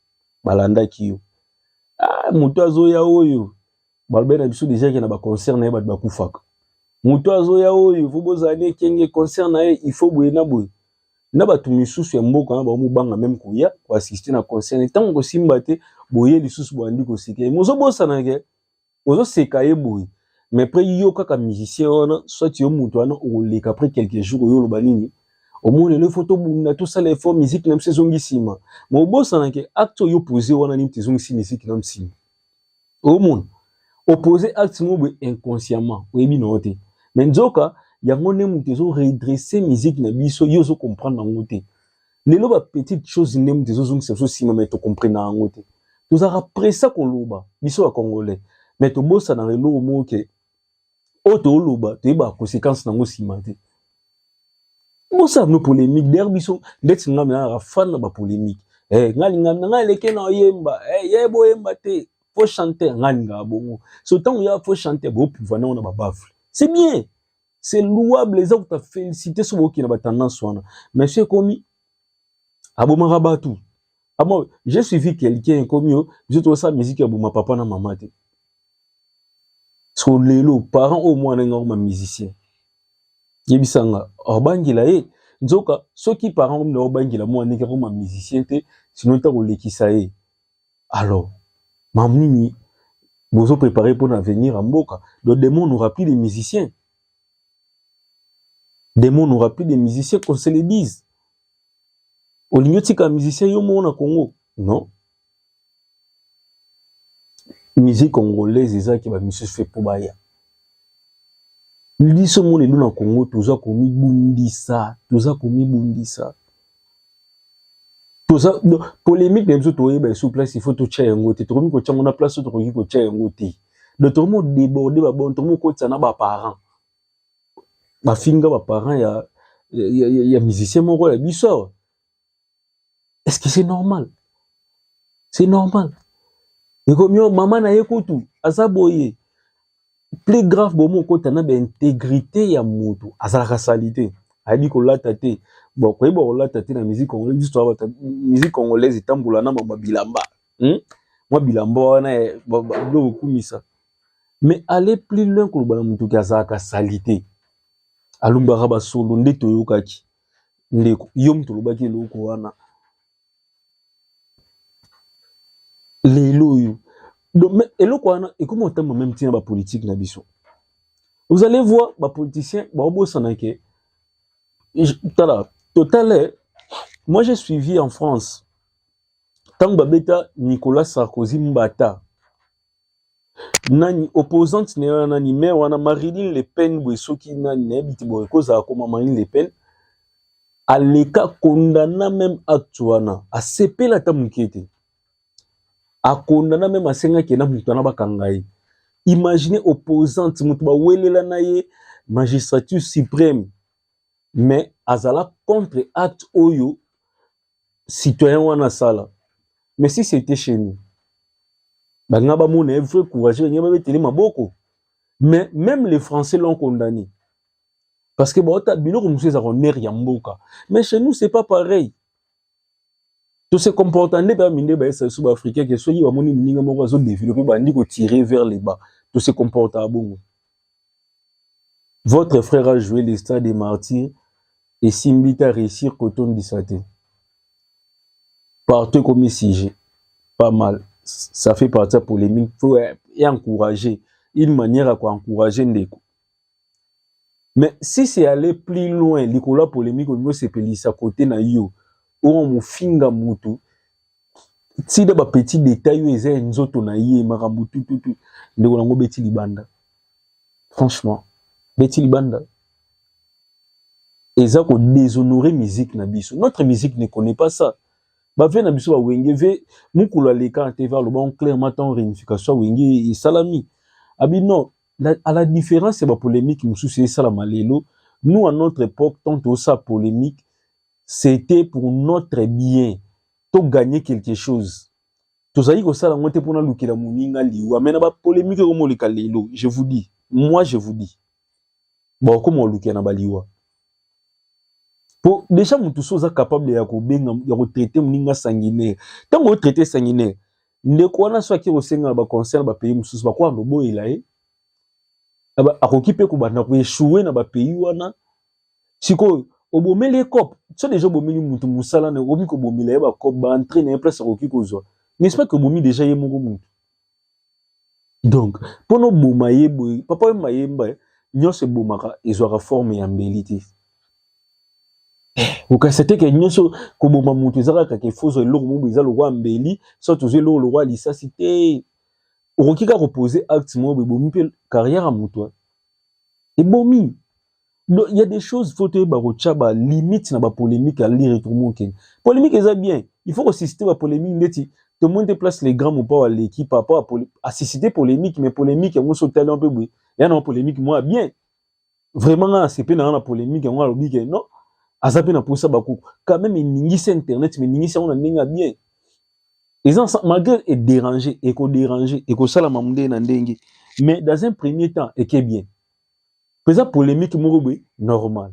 balandaki yo ah, moto azoya oyo balobai na biso deja ke na baconcert na ye bato bakufaka moto azoya oyo fo bozala na ekenge concert na ye ifo boye na boye na bato misusu ya mboka na baomobanga meme koya koassiste na concert ntango kosimba te boye lisusu boyandi koseke mozobosanake ozo seka ye boye mais après yo kaka musicien wana soit yo mutu wana okoleka après quelques jours oyo oloba nini omoni lelo faut tobunda tosala effort musique na biso ezongi nsima mais obosana ke acte oyo opose wana nini te ezongisi musique na nsima omona opose acte moko boye inconsciemment oyebi na yo te mais nzoka yango nde moto ezo redresse musique na biso yo ozo comprendre yango te lelo ba petite chose nde mutu ezozongisa biso nsima mai tokomprena yango te tozalaka presa koloba biso ya congolais mai tobosanaka eloko moko ke oyo tooloba toyebaka conséquence nango nsima te bosala no polémique der biso ndeti ngai minanaka fan na bapolémique hey, eh, ngai lingami na ngai eleke na oyemba hey, eh, ye boyemba te fo chanter ngai lingaka bongo so ntango ya fo chanter bopuvana yango na babafle c'est bien c'est louable eza kuta félicité soki okina ba tendance wana mais soki ekomi abomaka batu abo ah je suivi quelqu'un ekomi yo biso tosa musique ya boma papa na mama te so lelo parent oyo mwana nga ma musicien yebisa nga obangela ye nzoka soki parent oyo obangela mwana nga ma musicien te sinon ta kolekisa ye alors mamu nini bozo prepare mpona avenir ya mboka do demo n'aura plus de musiciens demo n'aura plus de musiciens qu'on se le dise olingi otika musicien yo moko na congo non musique congolaise ezalaki bamisusu fe mpo baya biso mona elo na congo toza komibundisa toza komibundisa toza polemique na biso toyeba esu place il faut totya yango te tokomi kotya yango na place oyo tokoki kotya yango te donc tokomi kodeborde babon tokomi kokotisa na baparent bafinga baparent ya, ya, ya, ya, ya musicien moko ya biso est ce que c'est normal c'est normal ekomi yo mama na ye kutu aza boye plus grave bomo okota na baintegrité ya motu azalaka salite ayebi kolata te bon koyeba kolata te na musique congolaise biso toza bato musique congolaise etambola na mama bilamba hmm? mwa bilamba wana biloko okumisa mais aller plus loin koloba na motu ke azalaka salite alumbaka basolo nde toyokaki ndeko yo moto olobaki eloko wana lelo oyo eloko wana ekomi otamba meme ntina bapolitike na biso vous allez voir bapoliticien baobosana ke tala totale moi j'ai suivi en france ntango babeta nicolas sarkozy mbata nani opposante na yo nani maire wana Marilyn Le Pen boye soki nani nayebi te boye kozala koma Marilyn Le Pen aleka kondana meme acte wana asepela ata moke te akondana meme asengaki na moto wana bakanga ye imagine opposante moto bawelela na ye magistrature supreme mais azala contre acte oyo citoyen wana asala mais si c'était chez nous balinga bamona ye vrai courageux balinga babetele maboko mais même les français l'ont condamné parce que baota biloko mosusu eza konere ya mboka mais chez nous c'est pas pareil to se comporta nde bami nde bayesa biso baafricain ke soki bamoni moninga moko azodeveloppe bandi kotire vers le bas to se comporta bongo votre frère a joué le stade des martyrs esimbi te areusir kotondisa te partout ekomi sujet pas mal ça fait partie ya polémique faut e encourager une manière ya koencourager ndeko mais si c'est aller plus loin likolo ya polémique olingi osepelisa kote na yo oyo mofinga motu ti na ba petit detail oyo eza ya nzoto na ye makambo tututu ndeko nango beti libanda franchement beti libanda eza ko déshonore musique na biso notre musique ne connaît pas ça ba vie na biso ba wenge ve mukulu aleka na tv aloba on clairement tant réunification wenge esalami abi non la, à la différence ya ba polémique mosusu esalama lelo nous à notre époque tant tosa polémique C'etait pour notre bien. To gagner quelque chose. Tozali kosala yango te mpo nalukela moninga liwa. Mais na ba polemique oyo moleka lelo, je vous dis, moi je vous dis, bakokoma kolukela na baliwa. Po deja mutu so oza capable ya kobenga ya kotraite moninga sanguinaire. Ntango otraite sanguinaire, ndeko wana so ake kosenga na baconcert bapays mosusu bakoka koboyela ye akoki mpe kobanda koechoue na bapays wana sikoyo obomeli ye cop so deja obomeli mutu mosala na okomi kobomela ye bacop baentrain na ye place akoki kozwa n'est-ce pas que obomi deja ye moko mutu donc mpo noboma ye boye papa oyo mayemba eh, nyonso ebomaka ezwaka forme ya mbeli te okasa te ke nyonso koboma moto eza kaka kefozo eloko mobo eza lokwa mbeli so tozwi eloko lokwa lisasi te okoki kaka kopose acte moko ebomi mpe carrière ya moto ebomi Donc, il y a des choses, faut toyeba kotia ba limite na ba polemique ali retromo ken. Polemique eza bien. Il faut ressusciter ba polemique ndeti to monte place les grands mopa wa l'équipe par rapport à poli... à susciter polemique mais polemique yango so talent peu boye. Ya na polemique moi bien. Vraiment na c'est pe na na polemique yango alobi ke non. Aza pe na posa ba ko quand même ningisa internet mais ningisa on a ninga bien. Ils ont malgré et déranger et ko déranger et ko sala mamde na ndenge mais dans un premier temps et que bien. eza polemique moko boye normal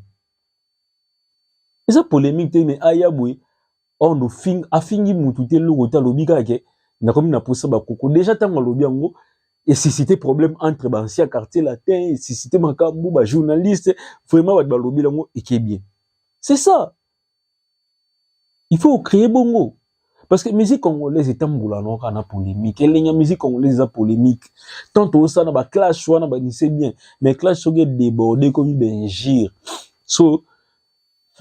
eza polemique te me aya boye ordo oh, fing afingi mutu te eloko te alobi kaka ke nakomi na posa bakoko deja ntango alobi yango esuscite problème entre baancien quartier latin esuscite makambo bajournaliste vraiment bato balobi yango eke bien c'est ça il faut créer bongo parce que musique congolaise etambola na kaka na polémique elengi ya musique congolaise eza polémique tant tosala na ba clash wana banise bien mais clash soki edeborde ekomi bengire so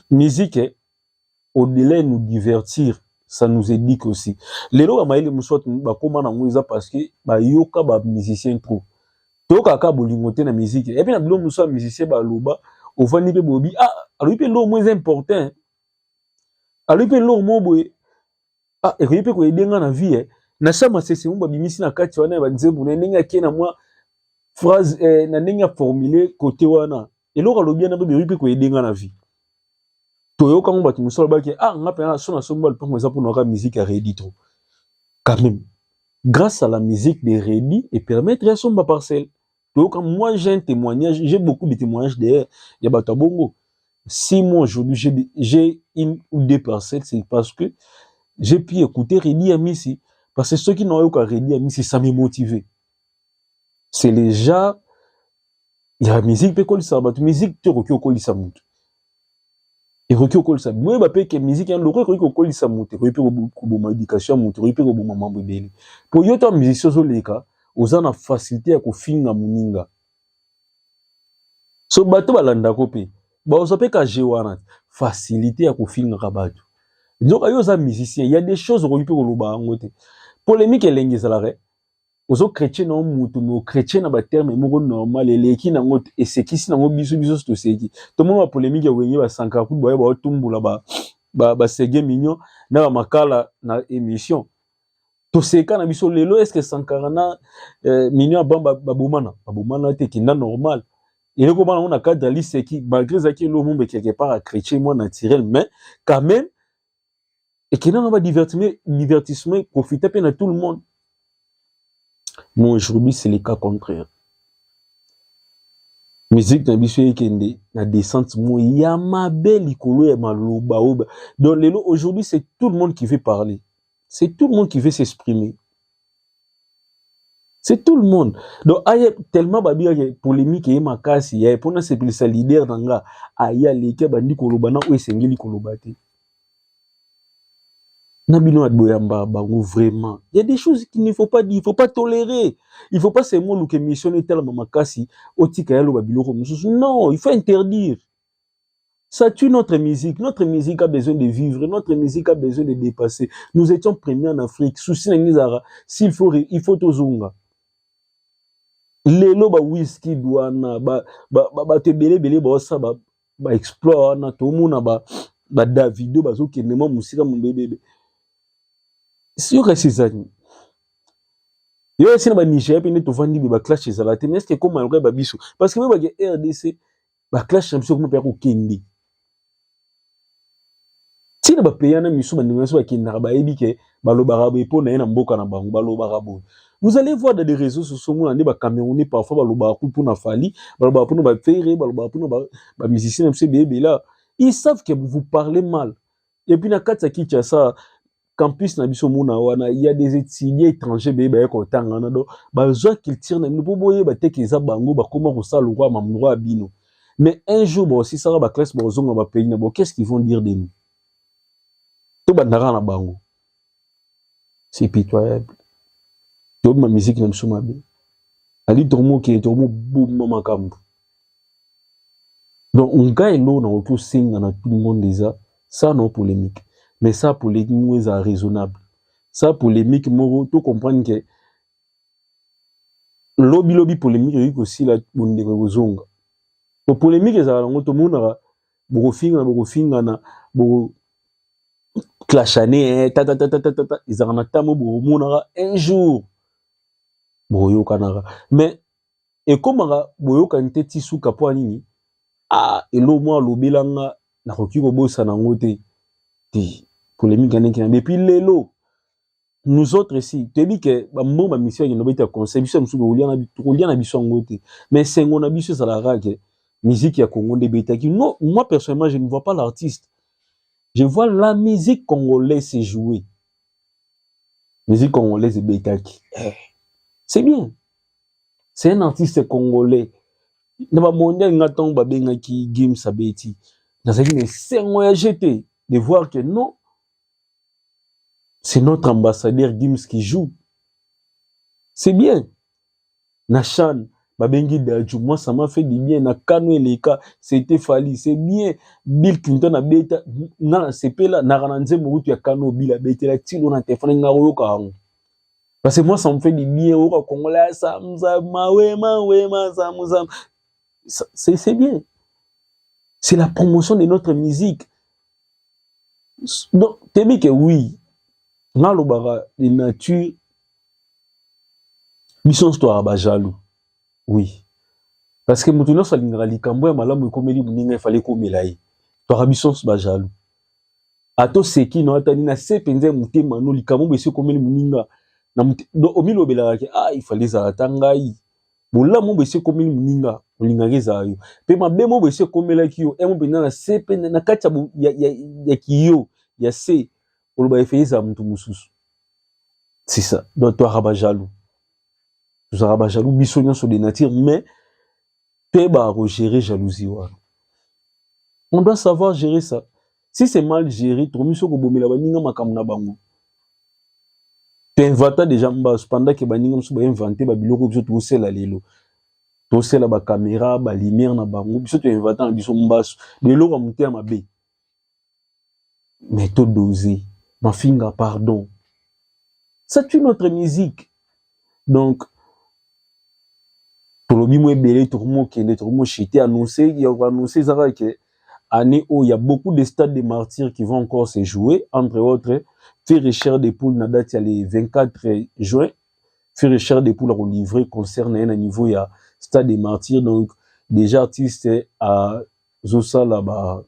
musique eh, au-delà ya nous divertir ça nous éduque aussi lelo bamayele mosusu bakóma nango eza parce que bayoka bamusicien trop toyoka kaka bolingo te na miziki epi na bilo mosusu ya musicien baloba ofandi mpe bobi ah alobi mpe eloko moko eza important alobi mpe eloko moko boye ah ekoki mpe koyede nga na vie eh. na sa masese mo babimisi na kati wana ya banzembo na ndenge ake na mwa phrase eh, na ndenge ya formule kote wana eloko alobi yana mpe beyoki mpe koyede nga na vie toyoka ngo bato mosusu alobaki ah nga mpe na so na somba lupango eza mpona kaka miziki ya redi trop quand même grâce à la musique de redi e permettre ya somba parcelle toyoka moi j'ai un témoignage j'ai beaucoup de témoignages d'ailleurs ya bato ya bongo si moi aujourd'hui j'ai une ou deux parcelles c'est parce que j'ai pu écouter redi ya misi parce que soki nayoka redi ya misi ça me motive c'est le genre ya musique mpe ekolisaka bato musique te okoki kokolisa moto ekoki kokolisa boyeba mpe ke musique ya loko ekoki kokolisa moto ekoki mpe koboma education ya moto ekoki mpe koboma mambo ebele mpo yo to musicien ozoleka oza na facilité ya kofinga moninga so bato balandako mpe baoza mpe kaje wana facilité ya kofingaka bato nzoka yo oza musicien ya des choses okoki mpe koloba yango te polémique elengi ezalaka ozo chrétien na mutu mais chrétien na ba terme moko normal eleki na ngo esekisi na ngo biso biso to seki to mona polemique ya wenge ba sankara kutu ba ba tumbula ba ba, ba sege mignon na ba makala na émission to seka na biso lelo est-ce que sankara na euh, mignon ba ba, ba bomana ba bomana te kinda normal eloko bana ngo na cadre liseki malgré zaki elo mumbe quelque part à chrétien moi naturel mais quand même ekenda na ba divertissement divertissement profita mpe na tout le monde mais aujourd'hui c'est le cas contraire musique na biso ekende na descente mo ya mabe likolo ya maloba oyo donc lelo aujourd'hui c'est tout le monde qui veut parler c'est tout le monde qui veut s'exprimer c'est tout le monde donc aye tellement babiyaka polémique eye makasi yaye mpo nasepelisa leader na nga aye aleki abandi koloba na oyo esengeli koloba te na bino ya boyamba bango vraiment il y a des choses qu'il ne faut pas dire il faut pas tolérer il faut pas seulement luka émission etalama makasi otika ya loba biloko mosusu non il faut interdire Ça tue notre musique. Notre musique a besoin de vivre. Notre musique a besoin de dépasser. Nous étions premiers en Afrique. Souci na ngizara. S'il faut, il faut tozonga. Lelo ba whisky douana ba ba ba, ba te belé belé ba ça ba ba explore na tout monde ba ba Davido ba zo kende mo musika mon bébé. Si yo kasi zani. Yo esi na ba Nigeria pe ne to vandi ba clash ezala te. Mais est-ce que comme malgré ba biso parce que ba RDC ba clash na biso ekoma mpe ya kokende ntina bapeya na miso bandeko na biso bakendaka bayebi ke balobaka boye mpo na ye na mboka na bango balobaka boye vous allez voir dans les réseaux sociaux omona nde bacamerounais parfois balobaka ku mpona fali balobaka mpona bafere balobaka mpona bamusicien na biso ebele ebela ils savent que vous parlez mal epuis na kati ya kinshasa campus na biso mona wana il y a des étudiants étrangers beye baye kotanga wana donc bazwa culture na bino mpo boyeba te ke eza bango bakoma kosala lokola mamdroit ya bino mais un jour baosisaka baklasse bakozonga bapays na bango qu'est-ce qu'ils vont dire de nous tobandaka na bango c'est pitoyable tobima miziki na biso mabe ali tokomokende tokomoboma makambo donc ngai eloko nakoki osenga na tout le monde eza sans no polemique mais sa polemique moko eza raisonnable sa polemique moko to comprendre ke lobi lobi polemique ekoki kosila bondeko ekozonga po polemique ezalaka yango tomonaka bokofingana bokofingana boko clashane eh, tatatatatata ezalaka na ntango bokomonaka un jour bokoyokanaka mais ekomaka boyokani te ti suka mpo nini ah elo mwa alobela nga nakoki kobosana yango te te polemique ya ndenge depuis lelo nous autres si toyebi ke bambongo bamisi bakende obeta conseil biso ya mosusu tokolia na biso yango te mais esengo na biso ezalaka ke musique ya congo nde ebetaki no moi personnellement je ne vois pas l'artiste je vois la musique congolaise se jouer musique congolaise ebetaki eh. c'est bien c'est un artiste congolais na ba mondial nga ntango babengaki gims abeti nazalaki na esengo ya jete de voir que non c'est notre ambassadeur gims qui joue c'est bien na chan babengi daju moi ça m'a fait du bien na kano eleka c'était fali c'est bien bill clinton abeta nga nasepela naka na nzembo kutu ya kano bill abetela tilo na telefone nga koyoka yango Parce que moi, ça me fait du bien. Au Congolais, ça me ça mawe mawe ma ça me ça. C'est c'est bien. C'est la promotion de notre musique. Donc, t'es bien que oui. Nalobara de nature. Mission histoire ba jaloux. Oui. Parce que mutu nyonso alingaka likambo ya malamu ekomeli moninga efale ekomela ye. Toyaka biso nyonso ba jaloux. ato seki no atani na se penza motema no likambo bese komeli muninga na do omilobelaka ke ah il fallait ezala ta ngai bolamu bese komeli muninga olingaka ezala yo pe mabe mo bese komelaki yo emo penza na se pe na kati ya, ya, ya kiyo ya se oloba efeli ezala moto mosusu c'est ça donc toyaka bajaloux tozalaka bajaloux biso nyonso de nature mais Te ba ko gérer jalousie wana. On doit savoir gérer ça. Si c'est mal géré, tokomi soko bomela baninga makambo na bango. To inventa déjà mbasu pendant que baninga mosusu ba inventer ba biloko biso tosela lelo. Tosela ba caméra, ba lumière na bango, biso to inventa na biso mbasu. Biloko ya mote ya mabe. mais to doser mafinga pardon ça tue notre musique donc tolobi mo ebele tokomokende tokomoshite annonce ya koannonce ezaka ke année oyo ya beaucoup de stades de martyrs qui vont encore se jouer entre autres fere cher de poule na date ya le 24 juin fere cher de poule akolivre concert na ye na niveau ya stade de martyrs donc déjà artiste a azosala ba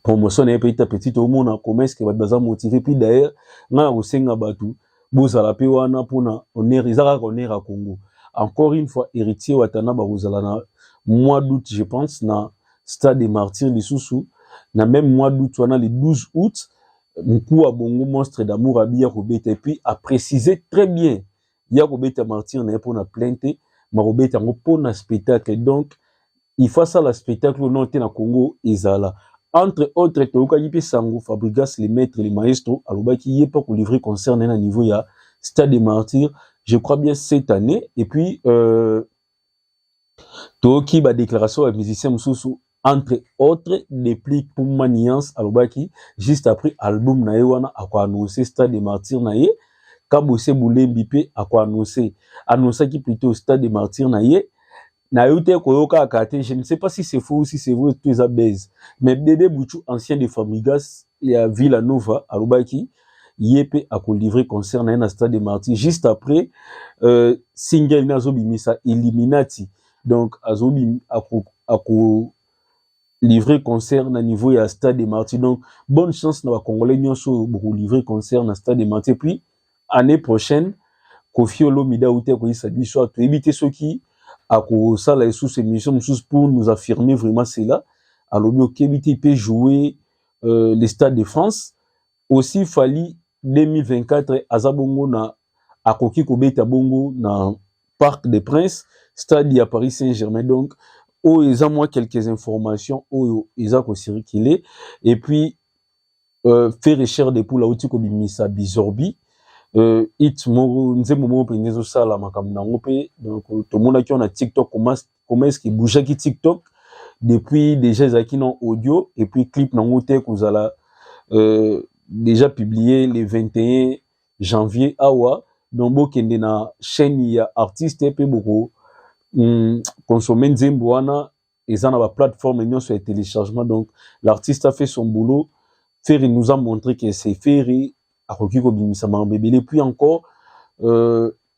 promotion na ye petit à petit tomona comment est-ce que bato baza motive puis d'ailleurs ngai nakosenga bato bozala mpe wana mpona honneur eza kaka honneur ya congo encore une fois héritier watana bakozala na mois d'août je pense na stade de martyr lisusu na même mois d'août wana le 12 août mokuu ya bongo monstre d'amour abiya kobeta epuis aprécise très bien ya kobeta martyr na ye mpo na plainte makobeta yango mpo na spectacle donc il faut asala spectacle oyo non te na congo ezala entre autres toyokaki mpe sango fabrigas le maître le maestro alobaki ye mpe akolivre concert na ye na niveau ya stade de martyr je crois bien cette année et puis euh, toyoki ba déclaration ya musicien mosusu entre autres depuis puma nuance alobaki juste après album na ye wana akoannonce stade de martyr na ye kabose bulembi mpe akoannonce annonçaki plutôt stade de martyr na ye nayo te koyoka kaka te je ne sais pas si c'est faux ou si c'est vrai tout eza base mais bebe buchu ancien de famigas ya Villa Nova alobaki ye mpe akolivre concert na ye na stade de martyr juste après euh, single ne azobimisa illuminati donc azobi ako, ako livrer concert na niveau ya stade de martyr donc bonne chance na bacongolais nyonso oyo bokolivre concert na stade de martyr puis année prochaine kofi olomide auti akoyisa biso awa toyebi te soki akosala lisusu émission mosusu pour nous affirmer vraiment cela alobi okebi te mpe jouer euh, le stade de France aussi fali 2024 aza bongo na akoki kobeta bongo na parc des princes stade ya paris saint germain donc oyo eza mwa quelques informations oyo eza kocircule et puis euh, fere cher de poule auti kobimisa bisorbi euh, it moko nzembo moko mpenza ezosala makambo na yango mpe donc tomonaki wana tiktok mast comment est-ce que bouger ki TikTok depuis déjà ezalaki na audio et puis clip nango te kozala euh, déjà publié le 21 janvier awa donc bokende na chaîne ya artiste mpe boko mm, consommer nzembo wana eza na baplateforme nyonso ya téléchargement donc l'artiste a fait son boulot ferry nous a montré que c'est ferry akoki kobimisa makambo ebele puis encore euh,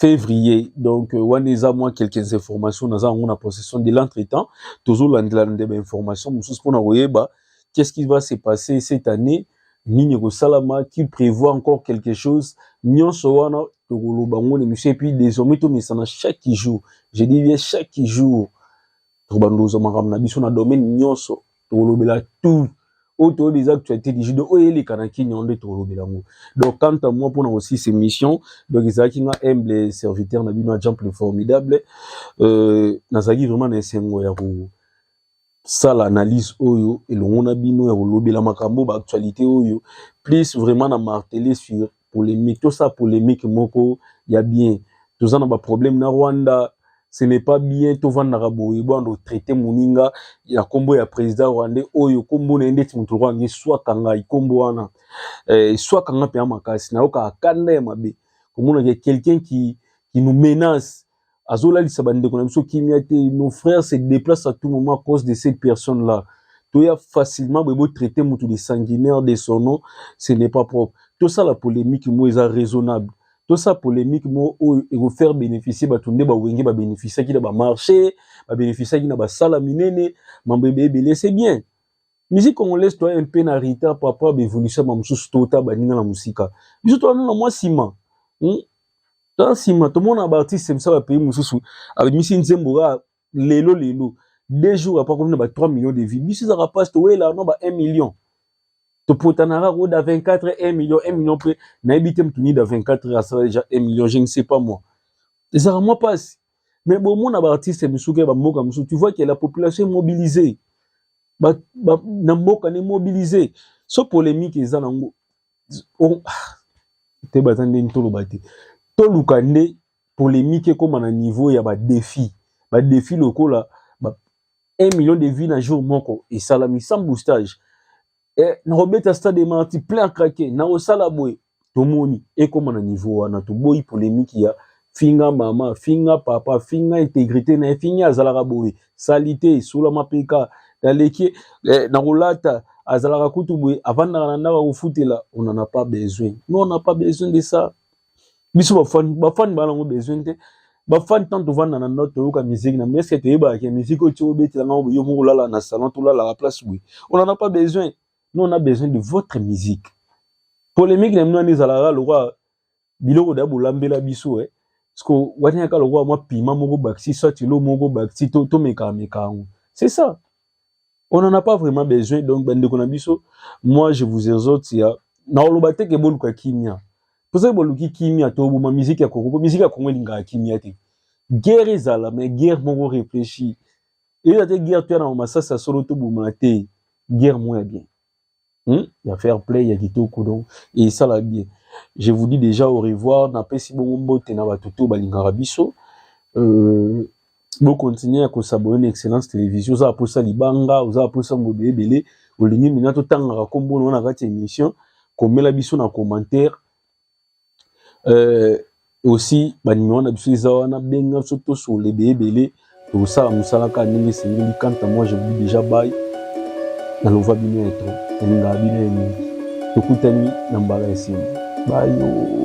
février donc euh, wana eza mwa quelques informations naza yango na possession de l'entretemps tozolandela nde bainformation mosusu mpona koyeba qu'est-ce qui va se passer cette année nini ekosalama qui prévoit encore quelque chose nyonso wana tokoloba ngo na émission epuis désormais tomesana chaque jour je dis bien chaque jour tokobanda kozwa makambo na biso na domaine nyonso tokolobela tout oyo toyebi eza actualité du judo oyo eleka na kini yango nde tokolobela yango donc quant à moi mpona kosilisa émission donc ezalaki nga humble serviteur na bino ya jamp le formidable euh, nazalaki vraiment na esengo ya kosala analyse oyo elongo na bino ya kolobela makambo baactualité oyo plus vraiment na martele sur polemique tosala polemique moko ya bien toza na baproblème na rwanda ce n'est pas bien tovandaka boye bwana totraite moninga ya nkombo ya président rwandais oyo nkombo na ye ndeti moto lokola nge swaka ngai nkombo wana eh, swaka ngai mpenza makasi nayokaka kanda ya mabe komonaka quelqu'un qui, qui nous menace azolalisa bandeko na biso kimia te nos frères se déplacent à tout moment à cause de ces personnes là toya facilement boye botraite motu de sanguinaire de son nom ce n'est pas propre tosala polémique mo eza raisonnable tosala polémique mo oyo ekofaire bénéficier bato nde bawenge babénéficiaki na bamarché babénéficiaki na basala minene mambo ebe ebele c'est bien musique congolaise toya mpe na retard papa baévolution ma mosusu tota baninga na mosika biso toya nano na mwa nsima hmm? Tala nsima tomona ba artiste misa ba pays mosusu abimisi nzembo kaka lelo lelo deux jours apres akomi na ba 3 millions de vues biso ezaka mpasi towela no ba 1 million topotanaka koda 24 1 million 1 million mpe nayebi te moto nida 24 asala deja 1 million je ne sais pas moi ezaka mwa mpasi mais bomona ba artiste misusu ke bamboka misusu tu vois ke la population est mobilisée ba, ba, na mboka ne mobilisée so polemique eza nango oh, te baza nde ntoloba te toluka nde polemique ekoma na niveau ya badefi badefi lokola ba 1 million de vie na jour moko esalami sans boostage eh, nakobeta stade marti plein craqué nakosala boye tomoni ekoma na niveau wana toboyi polemique ya finga mama finga papa finga integrite na ye fingi azalaka boye salite esula mapeka naleki eh, na kolata azalaka kutu boye avandaka na ndako akofutela on en a pas besoin non on a pas besoin de ça biso bafani bafani baa nango besoin te bafani ntango tovanda na ndako toyoka miziki na eske toyebaka ke miziki oyo tio obetela ngango yo moko olala na salon tolalaka place boye on en a pas besoin non on a besoin de votre musique polemique na bino wana ezalaka lokola biloko da bolambela biso eh. Siko wani yaka lokola mwa pima moko bakisi soit ilo moko bakisi to to meka meka yango. C'est ça. On n'en a pas vraiment besoin donc bande ko na biso moi je vous exhorte ya na oloba te ke boluka kimia. Posa boluki kimia to boma musique ya Congo, musique ya Congo linga kimia te. Guerre ezala mais guerre moko réfléchie. Et la guerre tu as na masasa solo to boma te. Guerre moins bien. hmm? ya fair play ya kitoko donc esala bien je vous dis déjà au revoir napesi bongo mbote na bato to balingaka biso euh, bokontinue ya kosabone na excellence télévision oza aposa libanga oza aposa modo ebele olingi mina totangaka nkombo na wana kati ya émission komela biso na commentaire euh, aussi banimero na biso eza wana benga biso tosolola ebele ebele tokosala mosala kaka ndenge esengeli kanta moi je vous déjà bai nalova bino ya tro nalingaka bino ya mingi tokutani na mbala ya nsima bayo